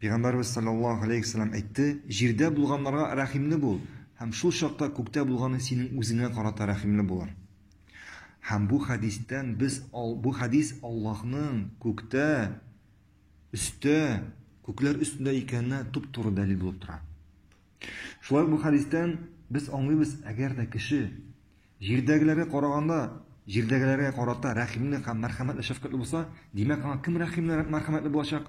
Пәйгамбәрбез салләллаһу галәйһи ва сәлләм әйтте, Җирдә булганнарга рәхимле бул, һәм шул чакта күктә булганы синең үзеңә карата рәхимле булыр. Һәм бу хәдистән без ал, бу хәдис Аллаһның күктә, өстә, күкләр өстендә икәненә туп-туры дәлил булып тора. Шулай ук бу хәдистән без аңлыйбыз, әгәр дә кеше җирдәгеләргә караганда, җирдәгеләргә карата рәхимле һәм мәрхәмәтле шәфкатьле булса, димәк, аңа кем рәхимле, мәрхәмәтле булачак?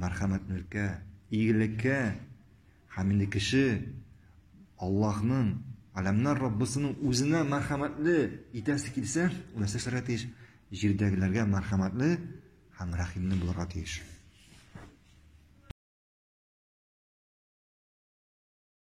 мәрхәмәтнлеккә, игелеккә һәм инде кеше Аллаһның, Аләмнәр Раббысының үзенә мәрхәмәтле итәсе килсә, ул нәрсә эшләргә тиеш? Җирдәгеләргә мәрхәмәтле һәм рәхимле булырга тиеш.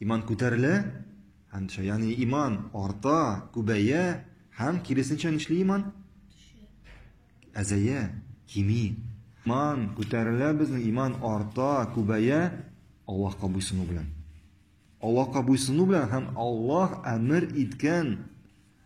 Иман күтәрелә һәм төшә. Ягъни иман арта, күбәя һәм киресенчә нишли иман? Әзәя, кими. Иман күтәрелә безнең, иман арта, күбәя Аллаһка буйсыну белән. Аллаһка буйсыну белән һәм Аллаһ әмер иткән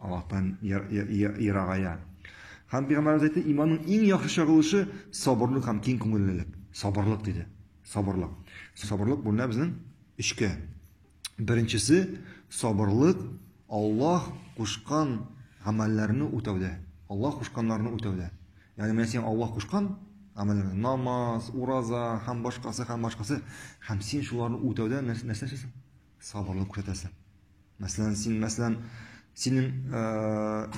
Аллаһтан ерагая. Һәм Пәйгамбәрбез әйтте, иманның иң яхшы чагылышы сабырлык һәм киң күңеллелек. Сабырлык диде. Сабырлык. Сабырлык бүленә безнең өчкә. Беренчесе сабырлык Аллаһ кушкан гамәлләрне үтәүдә. Аллаһ кушканнарны үтәүдә. Ягъни менә син Аллаһ кушкан гамәлләр, намаз, ураза һәм башкасы һәм башкасы һәм син шуларны үтәүдә нәрсә нәрсә Сабырлык күрсәтәсең. Мәсәлән, син, мәсәлән, синең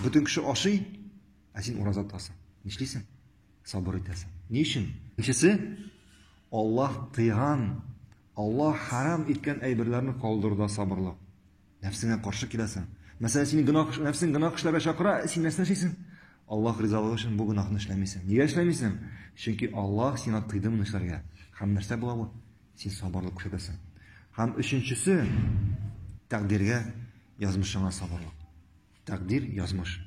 бөтен кеше ашый, ә син ураза тотасың. Нишлисең? Сабыр итәсең. Ни өчен? Икенчесе, Аллаһ тыйган, Аллаһ харам иткән әйберләрне калдыруда сабырлык. Нәфсеңә каршы киләсең. Мәсәлән, синең гөнаһ, нәфсең гөнаһ эшләргә чакыра, син нәрсә эшлисең? Аллаһ ризалыгы өчен бу гөнаһны эшләмисең. Нигә эшләмисең? Чөнки Аллаһ сиңа тыйды моны эшләргә. Һәм нәрсә була бу? Син сабырлык күрсәтәсең. Һәм өченчесе, тәкъдиргә, язмышыңа сабырлык. Тәкъдир, язмыш.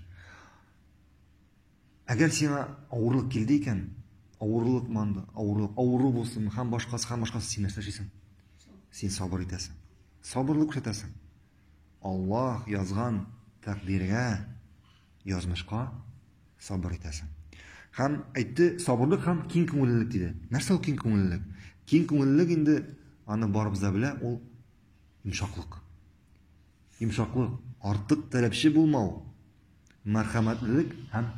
Әгәр сиңа авырлык килде икән, авырлык манды, авырлык, авыру булсын, һәм башкасы, һәм башкасы, син нәрсә эшлисең? Син сабыр итәсең. Сабырлык күрсәтәсең. Аллаһ язган тәкъдиргә, язмышка Сабыр итәсең. Һәм әйтте, сабырлык һәм киң күңеллелек диде. Нәрсә ул киң күңеллелек? Киң күңеллелек инде аны барыбыз да белә, ул йомшаклык. Йомшаклык, артык таләпче булмау, мәрхәмәтлелек һәм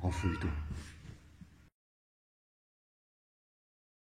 гафу итү.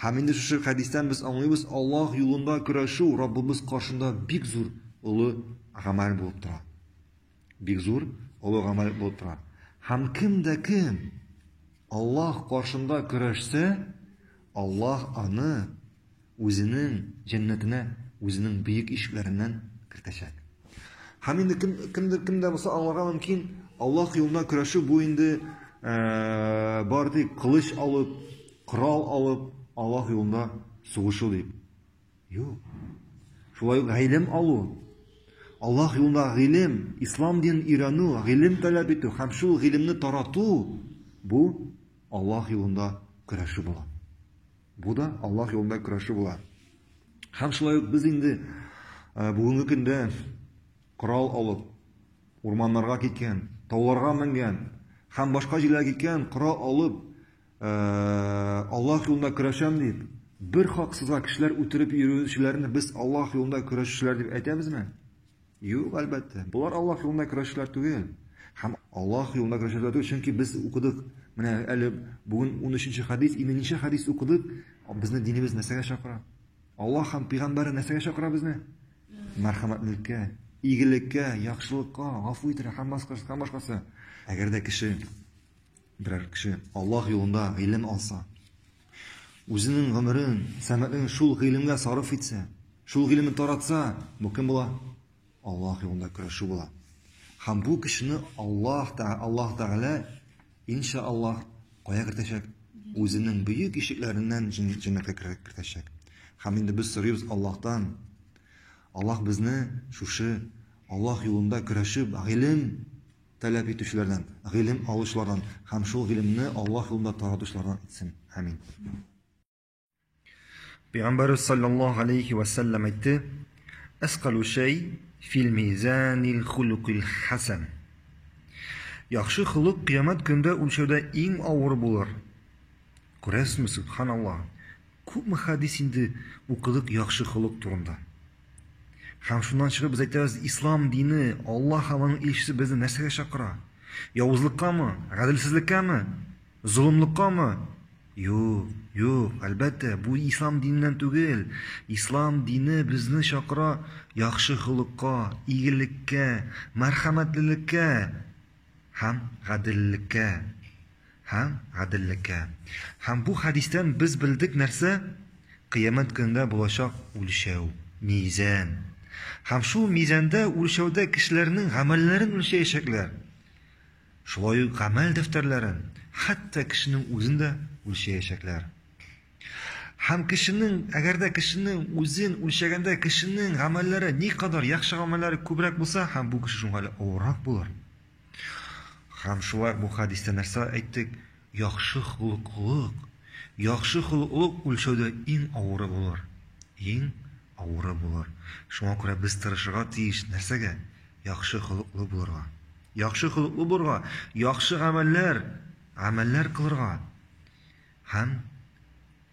Һәм инде шушы хәдистән без аңлыйбыз, Аллаһ юлында көрәшү Раббыбыз каршында бик зур, олы гамәл булып тора. Бик зур, олы гамәл булып тора. Һәм кем дә кем Аллаһ каршында көрәшсә, Аллаһ аны Үзенең җәннәтенә үзенең бөек ишекләреннән кертәчәк. Һәм инде кем, кемдер кем дә булса аңларга мөмкин, Аллаһ юлында көрәшү бу инде ә, бар дип, кылыч алып, корал алып, Аллаһ юлында сугышу дип. Юк. Шулай ук гыйлем алу. Аллаһ юлында гыйлем, ислам динен өйрәнү, гыйлем таләп итү һәм шул гыйлемне тарату бу Аллаһ юлында көрәшү була. Бу да Аллаһ юлында көрәшү була. Һәм шулай ук без инде бүгенге көндә корал алып, урманнарга киткән, тауларга менгән һәм башка җирләргә киткән корал алып, Аллаһ юлында көрәшәм дип, бер хаксызга кешеләр үтереп йөрүчеләрне без Аллаһ юлында көрәшүчеләр дип әйтәбезме? Юк, әлбәттә. Болар Аллаһ юлында көрәшчеләр түгел. Һәм Аллаһ юлында көрәшчеләр түгел, чөнки без укыдык. Менә әле бүген 13-нче хадис, 50-нче хадис укыдык. Безне динебез нәрсәгә чакыра? Аллаһ һәм пәйгамбәре нәрсәгә чакыра безне? Мәрхәмәтлеккә, игелеккә, яхшылыкка, гафу итәргә һәм башкасы. Әгәр дә кеше Берәр кеше Аллаһ юлында гыйлем алса, үзенең гомерен, сәмәен шул гыйлемгә сарыф итсә, шул гыйлемне таратса, бу кем була? Аллаһ юлында көрәшү була. Һәм бу кешене Аллаһ та Аллаһ Тәгалә иншааллаһ кая кертәчәк? Үзенең бөек ишекләреннән җәннәткә кертәчәк. Һәм инде без сорыйбыз Аллаһтан. Аллаһ безне шушы Аллаһ юлында көрәшеп, гыйлем таләп итүчеләрдән, гыйлем алучылардан һәм шул гыйлемне Аллаһ юлында таратучылардан итсен. Амин. Пәйгамбәрбез саллаллаһу алейхи ва саллям әйтте: "Әскалу шәй фил мизанил хулукил хасан". Яхшы холык кыямәт көндә үлчәүдә иң авыр булыр. Күрәсезме, сөбханалла, күпме хәдис инде укыдык яхшы холык турында. Һәм шуннан чыгып без әйтәбез, ислам дине, Аллаһ һәм аның илчесе безне нәрсәгә чакыра? Явызлыккамы? Гаделсезлеккәме? Золымлыккамы? Юк, юк, әлбәттә, бу ислам диненнән түгел. Ислам дине безне чакыра яхшы холыкка, игелеккә, мәрхәмәтлелеккә һәм гаделлеккә. Һәм гаделлеккә. Һәм бу хәдистән без белдек нәрсә? Кыямәт көнендә булачак үлчәү, мизән. Һәм шул мизәндә, үлчәүдә кешеләрнең гамәлләрен үлчәячәкләр. Шулай ук гамәл дәфтәрләрен, хәтта кешенең үзен дә үлчәячәкләр. Һәм кешенең, әгәр дә кешенең үзен үлчәгәндә кешенең гамәлләре никадәр яхшы гамәлләре күбрәк булса, һәм бу кеше шуңа әле авыррак булыр. Һәм шулай бу хәдистә нәрсә әйттек? Яхшы холыклык, яхшы холыклык үлчәүдә иң авыры булыр. Иң авыры булыр. Шуңа күрә без тырышырга тиеш нәрсәгә? Яхшы холыклы булырга. Яхшы холыклы булырга, яхшы гамәлләр, гамәлләр кылырга. Һәм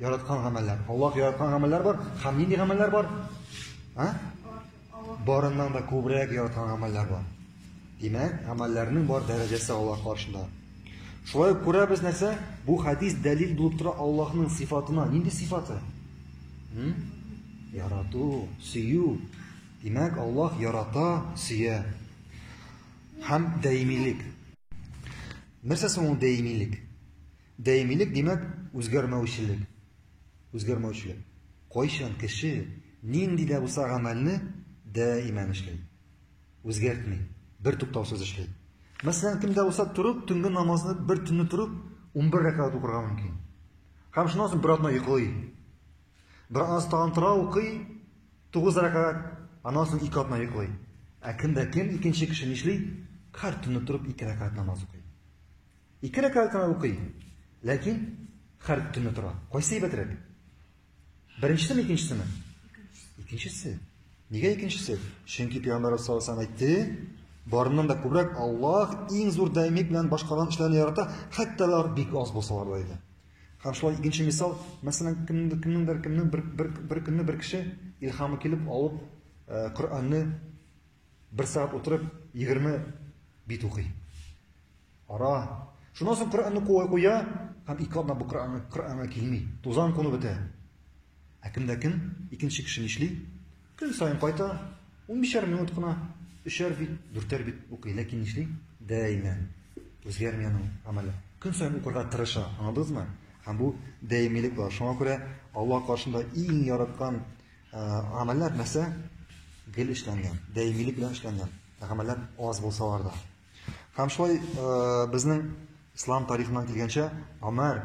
Яраткан гамәлләр. Аллаһ яраткан гамәлләр бар. Һәм нинди гамәлләр бар? А? Барыннан да күбрәк яраткан гамәлләр бар. Димәк, гамәлләрнең бар дәрәҗәсе Аллаһ каршында. Шулай ук күрәбез нәрсә? Бу хадис дәлил булып тора Аллаһның сифатына. Нинди сифаты? Хм? Ярату, сөю. Димәк, Аллаһ ярата, сөя. Һәм даимилек. Нәрсә соң ул даимилек? Даимилек димәк, үзгәрмәүчелек. Үзгәрмәүчелек. Кайчан кеше нинди дә булса гамәлне даиман эшли. Үзгәртми, бер туктаусыз эшли. Мәсәлән, кемдә булса торып, төнге намазны бер төнне торып 11 рәкәгать укырга мөмкин. Һәм шуннан соң бер атна йоклый. Бер атна тагын тора укый 9 рәкәгать, аннан соң ике атна йоклый. Ә кемдә кем икенче кеше нишли? Һәр төнне торып ике рәкәгать намаз укый. Ике рәкәгать кенә укый, ләкин һәр төнне тора. Кайсы әйбәтрәк? Беренчесеме, икенчесеме? Икенчесе. Нигә икенчесе? Чөнки пәйгамбәр саллаллаху алейһи әйтте, барыннан да күбрәк Аллаһ иң зур даимик белән башкарган эшләрне ярата, хәтта алар бик аз булсалар да иде. Һәм шулай икенче мисал, мәсәлән, кемнеңдер кемнеңдер кемнең бер бер бер көнне бер кеше илһамы килеп алып, э, Коръәнне бер сәгать утырып 20 бит укый. Ара. Шуннан соң Коръәнне куа куя, һәм ике атна бу Коръәнгә Коръәнгә килми. Тузан куну бетә. Ә кемдә кем? Икенче кеше нишли? Көн саен кайта, унбишәр минут кына, өчәр бит, дүртәр бит укый, ләкин нишли? Дәимән. Үзгәрми аның гамәле. Көн саен укырга тырыша, аңладыгызмы? Һәм бу дәимилек бар. Шуңа күрә Аллаһ каршында иң яраткан гамәлләр нәрсә? Гел эшләнгән, дәимилек белән эшләнгән. Гамәлләр аз булсалар да. Һәм шулай безнең ислам тарихыннан килгәнчә, Омар,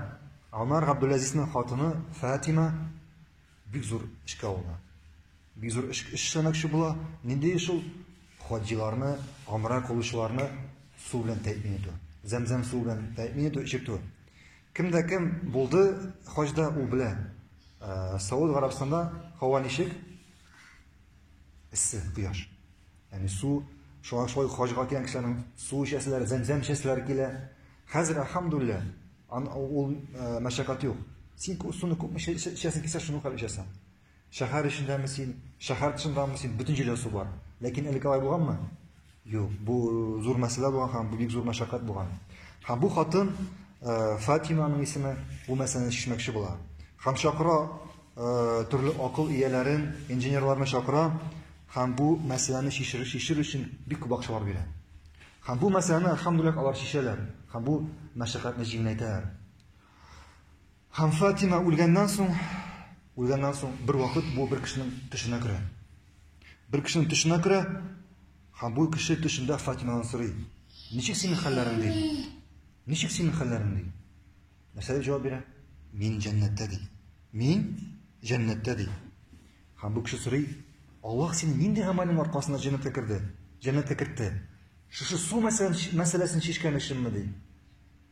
Омар Габдуләзизнең хатыны Фатима бик зур эшкә алына. Бик зур эш эшләмәкче була. Нинди эш ул? Хаҗиларны, гомрә кылучыларны су белән тәэмин итү. Зәмзәм суы белән тәэмин итү, эчертү. Кем дә кем булды хаҗда, ул белә. Сауд Гарәбстанда һава ничек? Эссе, кояш. Яни су, шуңа шулай хаҗга килгән кешеләрнең су эчәселәре, зәмзәм эчәселәре килә. Хәзер, альхамдулилла, ул э, мәшәкать юк. Син суны күпме эчәсең килсә, шуны кадәр эчәсең. Шәһәр эчендәме син, шәһәр тышындамы син, бөтен җирдә су бар. Ләкин әле алай булганмы? Юк, бу зур мәсьәлә булган һәм бу бик зур мәшәкать булган. Һәм бу хатын э, Фатиманың исеме бу мәсьәләне чишмәкче була. Һәм чакыра э, төрле акыл ияләрен, инженерларны чакыра һәм бу мәсьәләне чишер, чишер өчен бик күп акчалар бирә. Һәм бу мәсьәләне, әлхәмдүлилләһ, алар чишәләр һәм бу мәшәкатьне җиңеләйтәләр. Һәм Фатима үлгәннән соң, үлгәннән соң бервакыт бу бер кешенең төшенә керә. Бер кешенең төшенә керә, һәм бу кеше төшендә Фатимадан сорый, ничек синең хәлләрең ди? Ничек синең хәлләрең ди? Нәрсә дип җавап бирә? Мин җәннәттә ди. Мин җәннәттә ди. Һәм бу кеше сорый, Аллаһ сине нинди гамәлең аркасында җәннәткә керде? Җәннәткә кертте. Шушы су мәсьәләсен чишкән өченме ди?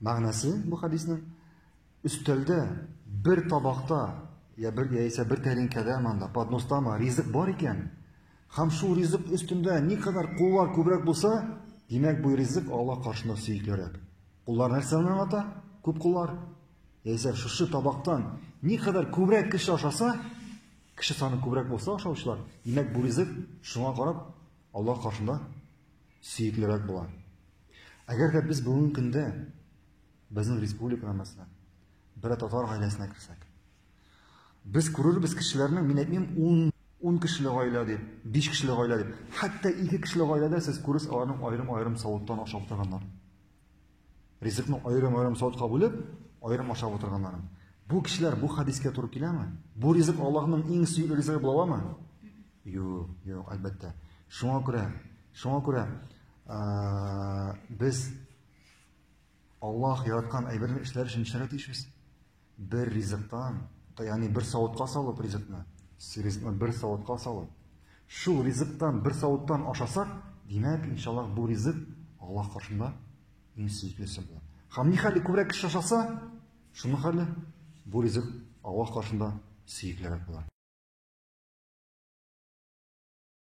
Мәгънәсе бу хәдиснең өстәлдә бер табакта я бер яисә бер тәринкәдә манда подностама ризык бар икән, һәм шул ризык өстендә никадәр куллар күбрәк булса, димәк бу ризык Алла каршына сөеклерәк. Куллар нәрсәне аңлата? Күп куллар. Яисә шушы табактан никадәр күбрәк кеше ашаса, кеше саны күбрәк булса ашаучылар, димәк бу ризык шуңа карап Алла каршында сөеклерәк була. Әгәр дә без бүгенге көндә безнең республикага мәсәлән, бер татар гаиләсенә керсәк, без күрербез кешеләрнең, мин әйтмим, 10 10 кешеле гаилә дип, 5 кешеле гаилә дип, хәтта 2 кешеле гаиләдә сез күресез аларның аерым-аерым савыттан ашап торганнар. Ризыкны аерым-аерым савытка бүлеп, аерым ашап утырганнарын. Бу кешеләр бу хадискә туры киләме? Бу ризык Аллаһның иң сөйү ризыгы була аламы? Юк, юк, әлбәттә. Шуңа күрә, шуңа күрә без Аллаһ яраткан әйберне эшләр өчен эшләргә тиешбез. Бер ризыктан, ягъни бер савытка салып ризыкны, ризыкны бер савытка салып, шул ризыктан бер савыттан ашасак, димәк, иншаллах, бу ризык Аллаһ каршында иң сөеклесе була. Һәм ни хәле күбрәк кеше ашаса, шуның хәле бу ризык Аллаһ каршында сөеклерәк була.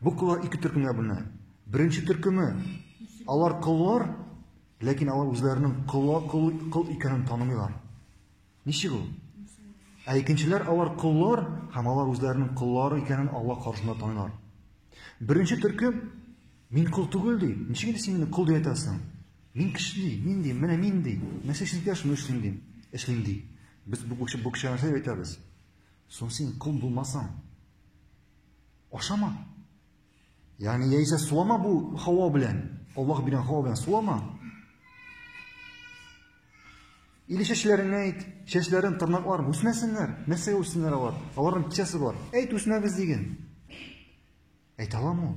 Бу коллар ике төркемгә бүленә. Беренче төркеме алар коллар, ләкин алар үзләренең колла кол кол икәнен танымыйлар. Ничек ул? Ә икенчеләр алар коллар һәм алар үзләренең коллары икәнен Алла каршында танылар. Беренче төркем мин кол түгел ди. Ничек инде син мине кол дип әйтәсең? Мин кеше ди, мин ди, менә мин ди. Нәрсә эшлим дә шуны эшлим ди. Эшлим ди. Без бу кеше бу кеше нәрсә әйтәбез? Соң син кол булмасаң, Ашама. Ягъни яисә сулама бу һава белән. Аллаһ биргән һава белән сулама. Или чәчләреңә әйт, чәчләрен, тырнаклар үсмәсеннәр. Нәрсәгә үссеннәр алар? Аларның кичәсе бар. Әйт, үсмәгез диген. Әйтә аламы ул?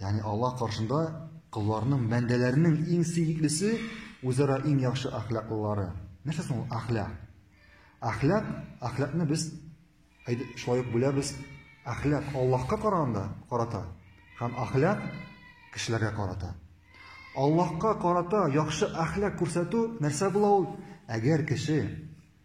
Ягъни Аллаһ каршында колларның, бәндәләрнең иң сөеклесе үзара иң яхшы әхлаклылары. Нәрсә соң ул әхлак? Әхлак, әхлакны без шулай ук бүләбез. Әхлак Аллаһка караганда карата һәм әхлак кешеләргә карата. Аллаһка карата яхшы әхлак күрсәтү нәрсә була ул? Әгәр кеше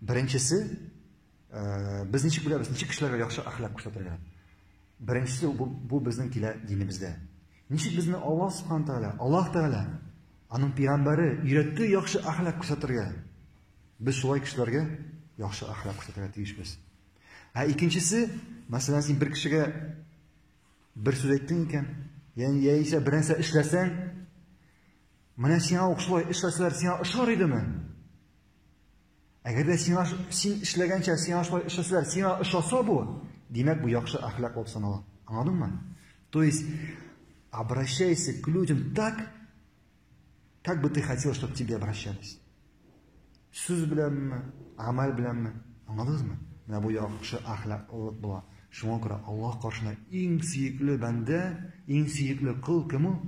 Беренчесе, без ничек беләбез, ничек кешеләргә яхшы әхлак күрсәтергә? Беренчесе бу, бу безнең килә динебездә. Ничек безне Аллаһ Субхану Тәгалә, Аллаһ Тәгалә, аның пигамбәре өйрәтте яхшы әхлак күрсәтергә. Без шулай кешеләргә яхшы әхлак күрсәтергә тиешбез. Ә икенчесе, мәсәлән, син бер кешегә бер сүз әйттең икән, яни яисә бернәрсә эшләсәң, менә сиңа ук шулай эшләсәләр, сиңа ошар идеме? Әгәр дә сиңа син эшләгәнчә сиңа шулай эшләсәләр, сиңа ошаса бу, димәк бу яхшы әхлак булып санала. Аңладыңмы? То есть обращайся к людям так, как бы ты хотел, чтобы тебе обращались. Сүз беләнме, амаль беләнме? Аңладыңызмы? Менә бу яхшы әхлаклылык була. Шуңа күрә Аллаһ каршына иң сөекле бәндә, иң сөекле кыл кем ул?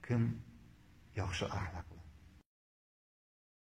Кем яхшы әхлак?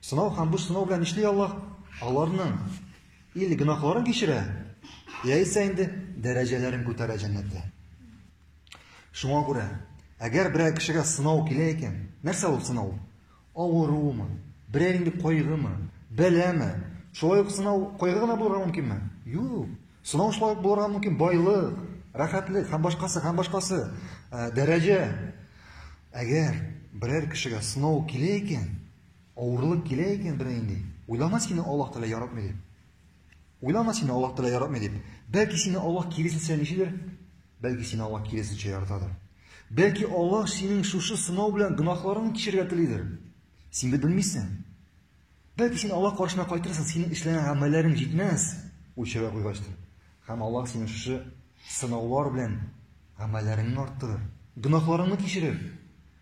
Сынау һәм бу сынау белән нишли Аллаһ? Аларның или гөнаһларын кичерә, яисә инде дәрәҗәләрен күтәрә җәннәттә. Шуңа күрә, әгәр берәр кешегә сынау килә икән, нәрсә ул сынау? Авыруымы? Берәр инде кайгымы? Бәләме? Шулай ук сынау кайгы гына булырга мөмкинме? Юк. Сынау шулай ук булырга мөмкин байлык, рәхәтлек һәм башкасы һәм башкасы, дәрәҗә. Әгәр берәр кешегә сынау килә икән, Авырлык килә икән бернинди, уйлама сине Аллаһ Тәгалә яратмый дип. Уйлама сине Аллаһ Тәгалә яратмый дип. Бәлки сине Аллаһ киресенчә ничедер? Бәлки сине Аллаһ киресенчә яратадыр. Бәлки Аллаһ синең шушы сынау белән гөнаһларыңны кичерергә телидер. Син бит белмисең. Бәлки син Аллаһ каршына кайтырсың, синең эшләгән гамәлләрең җитмәс, үлчәүгә куйгачтыр. Һәм Аллаһ синең шушы сынаулар белән гамәлләреңне арттырыр, гөнаһларыңны кичерер.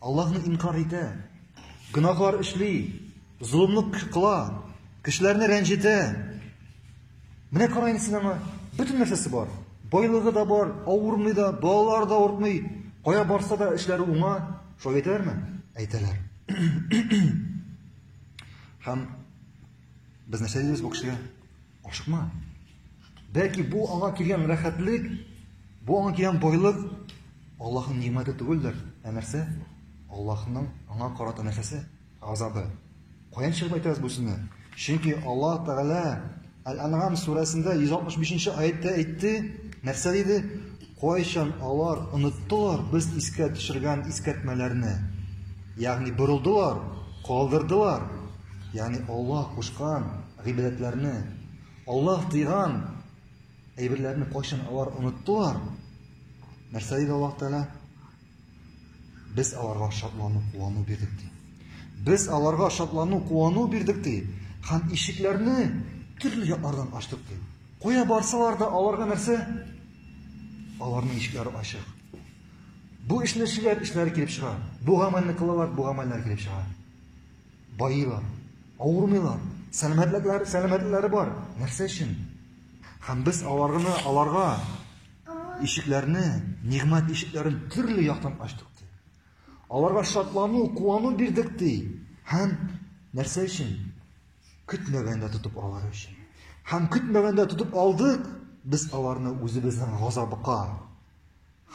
Аллаһны инкар итә, гөнаһлар эшли, золымлык кыла, кешеләрне рәнҗетә. Менә караен син аңа, бөтен нәрсәсе бар. Байлыгы да бар, авырмый да, балалар да ортмый. Кая барса да эшләре уңа. Шулай әйтәләрме? Әйтәләр. Һәм без нәрсә дибез бу кешегә? Ашыкма. Бәлки бу аңа килгән рәхәтлек, бу аңа килгән байлык Аллаһның нимәте түгелдер, ә нәрсә? Аллаһның аңа карата нәрсәсе? Газабы. Каян чыгып әйтәбез бу сүзне? Чөнки Аллаһ Тәгалә Әл-Ан'ам сүрәсендә 165 нче аятта әйтте, нәрсә диде? Кайчан алар оныттылар без искә төшергән искәртмәләрне? Ягъни борылдылар, калдырдылар. Ягъни Аллаһ кушкан гыйбадәтләрне, Аллаһ тыйган әйберләрне кайчан алар оныттылар? Нәрсә диде Аллаһ Тәгалә? Без аларга шатлану, куану бирдек ди. Без аларга шатлану, куану бирдек ди. Һәм ишекләрне төрле яклардан ачтык ди. Кая барсалар да аларга нәрсә? Аларның ишекләре ачык. Бу эшне эшләр, эшләре килеп чыга. Бу гамәлне кылалар, бу гамәлләр килеп чыга. баилар, авырмыйлар, сәламәтлекләре, сәламәтлекләре бар. Нәрсә өчен? Һәм без аларны, аларга ишекләрне, нигъмәт ишекләрен төрле яктан ачтык ди. Аларга шатлану, куану бирдек ди. Һәм нәрсә өчен? Көтмәгәндә тотып алар өчен. Һәм көтмәгәндә тотып алдык без аларны үзебезнең газабыка.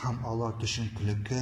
Һәм алар төшенкелеккә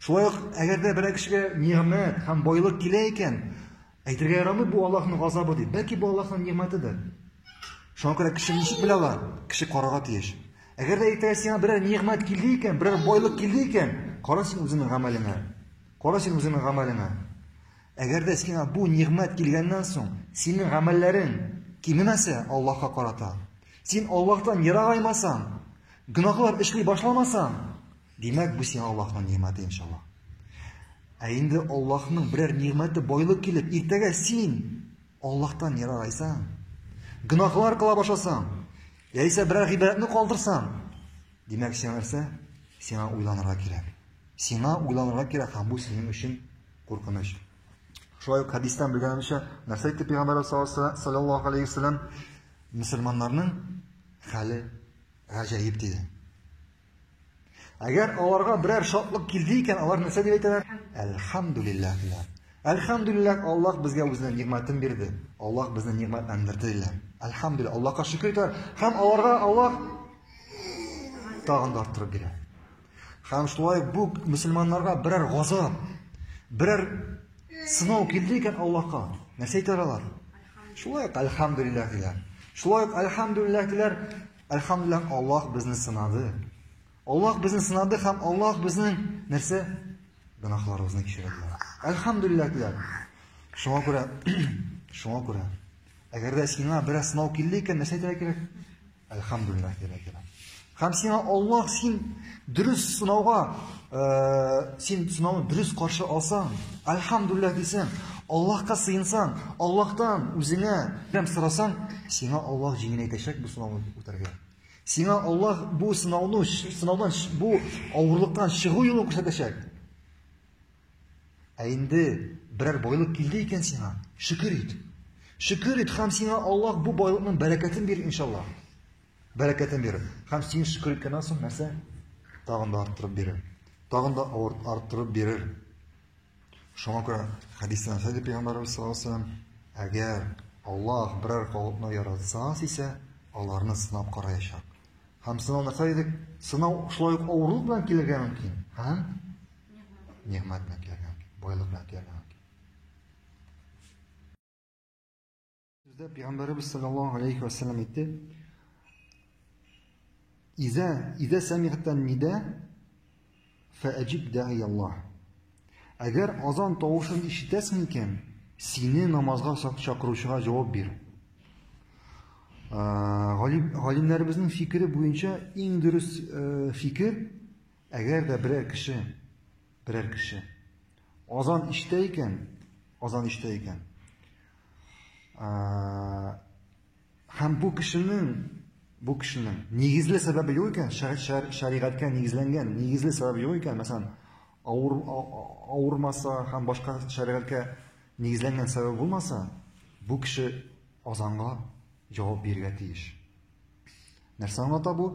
Шулай ук, әгәр дә берәр кешегә нигъмәт һәм байлык килә икән, әйтергә ярамый бу Аллаһның газабы дип. Бәлки бу Аллаһның нигъмәтедер. Шуңа күрә кеше ничек белә ала? Кеше карарга тиеш. Әгәр дә иртәгә сиңа берәр нигъмәт килде икән, берәр байлык килде икән, кара син үзеңнең гамәлеңә. Кара син үзеңнең гамәлеңә. Әгәр дә сиңа бу нигъмәт килгәннән соң, синең гамәлләрең кимемәсә Аллаһка карата, син Аллаһтан ерагаймасаң, гөнаһлар эшли башламасаң, Димәк, бу сиңа Аллаһның нигъмәте иншалла. Ә инде Аллаһның берәр нигъмәте байлык килеп, иртәгә син Аллаһтан ерагайсаң, гөнаһлар кыла башласаң, яисә берәр гыйбадәтне калдырсаң, димәк, сиңа нәрсә? Сиңа уйланырга кирәк. Сиңа уйланырга кирәк, һәм бу синең өчен куркыныч. Шулай ук хәдистән белгәнемчә, нәрсә әйтте пәйгамбәр саллаллаһу алейхи вәсәлләм? Мөселманнарның хәле гаҗәеп диде. Әгәр аларга берәр шатлык килде икән, алар нәрсә дип әйтәләр? Әлхамдулиллах диләр. Әлхамдулиллах, Аллаһ безгә үзенә нигъмәтен бирде. Аллаһ безне нигъмәтләндерде диләр. Әлхамдулиллах, Аллаһка шөкер итәләр. Һәм аларга Аллаһ тагын да арттырып бирә. Һәм шулай бу мусульманнарга берәр газап, берәр сынау килде икән Аллаһка, нәрсә әйтәләр алар? Шулай, әлхамдулиллах диләр. Шулай, әлхамдулиллах диләр. Әлхәмдүлилләһ, Аллаһ безне сынады. Аллаһ безне сынады һәм Аллаһ безнең нәрсә? Гөнаһларыбызны кичерде. Әлхәмдүлилләһ диләр. Шуңа күрә, шуңа күрә, әгәр дә сиңа бераз сынау килде икән, нәрсә әйтергә кирәк? Әлхәмдүлилләһ диләр. Һәм сиңа Аллаһ син Дөрес сынауга, э, син сынауны дөрес каршы алсаң, альхамдулилла дисәң, Аллаһка сыенсаң, Аллаһтан үзеңә ярдәм сорасаң, сиңа Аллаһ җиңеләйтәчәк бу сынауны үтәргә. Сиңа Аллаһ бу сынауны, сынаудан бу авырлыктан чыгу юлын күрсәтәчәк. Ә инде берәр байлык килде икән сиңа, шөкер ит. Шөкер ит һәм сиңа Аллаһ бу байлыкның бәрәкәтен бирер иншаллаһ. бәрәкәтен бирер. Һәм син шөкер иткәннән соң нәрсә? Тагын да арттырып бирер. Тагын да арттырып бирер. Шуңа күрә хәдистә нәрсә дип пәйгамбәрбез саллаллаһу алейһи ва сәлләм, әгәр Аллаһ берәр халыкны яратсаң дисә, аларны сынап караячак. Һәм сынау нәрсә дидек? Сынау шулай ук авырлык белән килергә мөмкин. Һәм нигъмәт белән килергә мөмкин, байлык белән килергә мөмкин. Сүздә пәйгамбәребез саллаллаһу алейхи ва саллям әйтте: "Иза иза самигтан нида фаҗиб даи Аллаһ". Әгәр азан тавышын ишетәсең икән, сине намазга чакыручыга җавап бир. Галимнәребезнең фикере буенча иң дөрес фикер, әгәр дә берәр кеше берәр кеше. Азан иштә икән, азан иштә икән. Һәм бу кешенең бу кешенең нигезле сәбәбе юк икән, шәригатькә нигезләнгән нигезле сәбәбе юк икән, мәсәлән, авыр авырмаса һәм башка шәригатькә нигезләнгән сәбәбе булмаса, бу кеше азанга җавап бирергә тиеш. Нәрсә аңлата бу?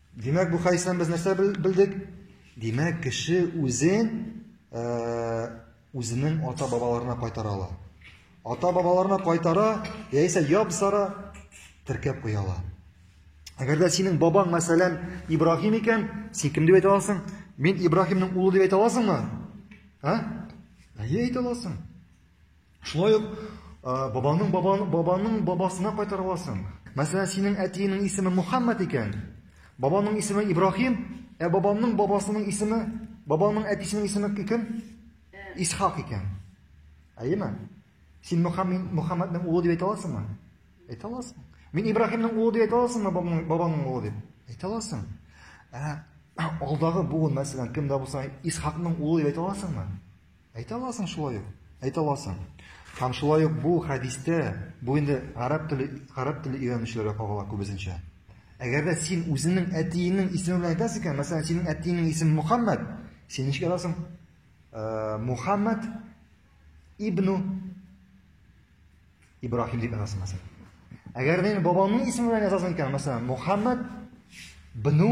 Димәк, бу хәдистән без нәрсә белдек? Димәк, кеше үзен э, үзенең ата-бабаларына кайтара ала. Ата-бабаларына кайтара, яисә ябсара теркәп куя ала. Әгәр дә синең бабаң, мәсәлән, Ибраһим икән, син кем дип әйтә аласың? Мин Ибраһимның улы дип әйтә аласыңмы? Ә? Әйе, әйтә аласың. Шулай ук бабаның бабаның бабаның бабасына кайтара аласың. Мәсәлән, синең әтиеңнең исеме Мөхәммәд икән, бабаның исеме Ибраһим, ә бабамның бабасының исеме, бабамның әтисенең исеме кем? Исхак икән. Әйеме? Син Мөхәммәд Мөхәммәднең улы дип әйтә аласыңмы? Әйтә аласың. Мин Ибраһимның улы дип әйтә аласыңмы, бабамның бабамның улы дип? Әйтә аласың. Ә алдагы буын, мәсәлән, кемдә булса, Исхакның улы дип әйтә аласыңмы? Әйтә аласың шулай ук. Әйтә аласың. Һәм шулай ук бу хәдистә, бу инде гарәп теле, гарәп теле өйрәнүчеләргә кагыла күбесенчә. Әгәр дә син үзеңнең әтиеңнең исеме белән әйтәсең икән, мәсәлән, синең әтиеңнең исеме Мухаммад, син ничек язасың? Э, Мухаммад ибну Ибрахим дип язасың, мәсәлән. Әгәр дә бабаңның исеме белән язасың икән, мәсәлән, Мухаммад бну